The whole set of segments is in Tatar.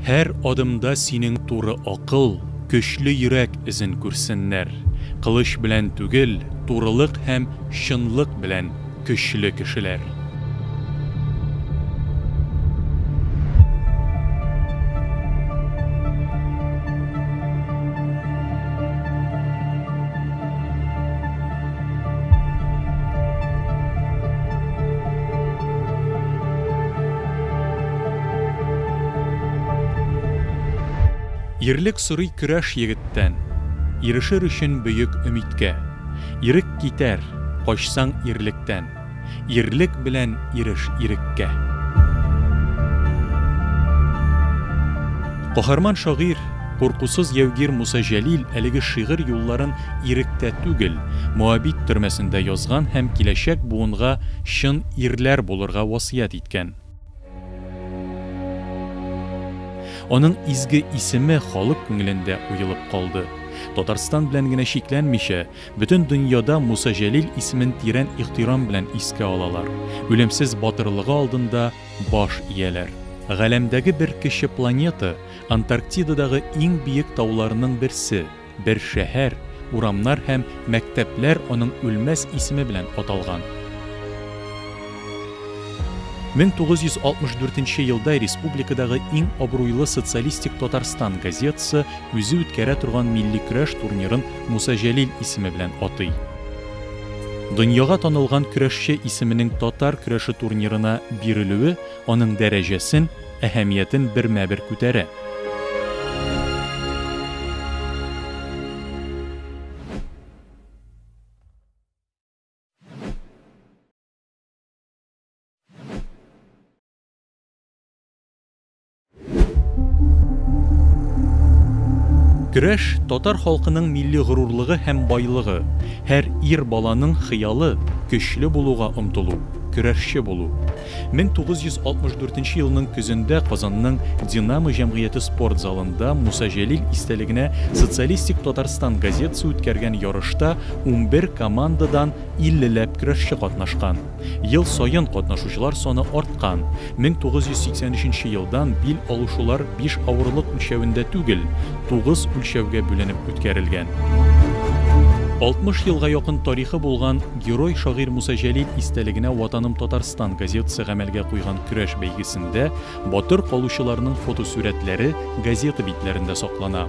Һәр адымда синең туры акыл, көчле йөрәк эзен күрсеннәр. Кылыч белән түгел, турылык һәм чынлык белән көчле кешеләр. Ирлек сорый көрәш егеттән, Ирешер өчен бөек өмидкә. Ирек китәр, качсаң ирлектән. Ирлек белән иреш иреккә. Каһарман шагыйрь, куркусыз яугир Муса Җәлил әлеге шигырь юлларын иректә түгел, Моабит төрмәсендә язган һәм киләчәк буынга чын ирләр булырга васыять иткән. Аның изге исеме халык күңелендә уелып калды. Татарстан белән генә чикләнмичә, Бөтен дөньяда Муса Җәлил исемен тирән ихтирам белән искә алалар, үлемсез батырлыгы алдында баш ияләр. Галәмдәге бер кече планета, Антарктидадагы иң биек тауларның берсе, бер шәһәр, урамнар һәм мәктәпләр аның үлмәс исеме белән аталган. 1964 нче елда республикадагы иң абруйлы социалистик Татарстан газетасы үзе үткәрә торган милли көрәш турнирын Муса Җәлил исеме белән атый. Дөньяга танылган көрәшче исеменең татар көрәше турнирына бирелүе аның дәрәҗәсен, әһәмиятен бермә-бер күтәрә. Көрәш, татар халкының милли горурлыгы һәм байлыгы. Һәр ир баланың хыялы, көчле булуга омтылу, көрәшче булу. 1964 елның көзендә Казанның Динамо җәмгыяте спорт залында Муса Җәлил истәлегенә Социалистик Татарстан газетасы үткәргән ярышта унбер командадан иллеләп көрәшче катнашкан. Ел саен катнашучылар саны арткан. 1983 нче елдан бил алышулар биш авырлык үлчәвендә түгел, тугыз үлчәүгә бүленеп үткәрелгән. 60 елга якын тарихы булган Герой шагыйрь Муса Җәлил истәлегенә Ватаным Татарстан газетасы гамәлгә куйган көрәш бәйгесендә батыр калучыларның фотосурәтләре газета битләрендә саклана.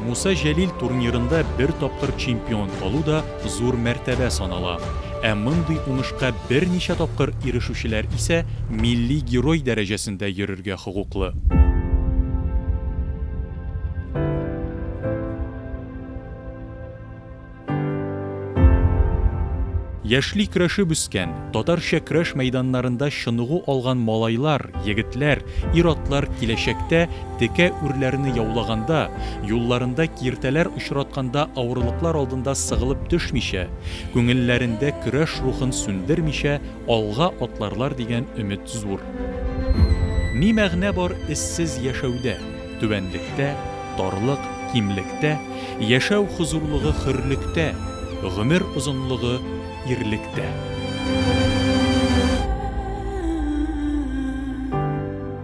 Муса Җәлил турнирында бер тапкыр чемпион калу да зур мәртәбә санала. Ә мондый уңышка берничә тапкыр ирешүчеләр исә милли герой дәрәҗәсендә йөрергә хокуклы. Яшьли көрәшеп үскән, татарча көрәш мәйданнарында чыныгу алган малайлар, егетләр, ир-атлар киләчәктә Текә үрләрне яулаганда, юлларында киртәләр очратканда авырлыклар алдында сыгылып төшмичә, күңелләрендә көрәш рухын сүндермичә алга атларлар дигән өмет зур. Ни мәгънә бар эзсез яшәүдә, түбәнлектә, тарлык, кимлектә, яшәү хозурлыгы хөрлектә, гомер озынлыгы ирлектә.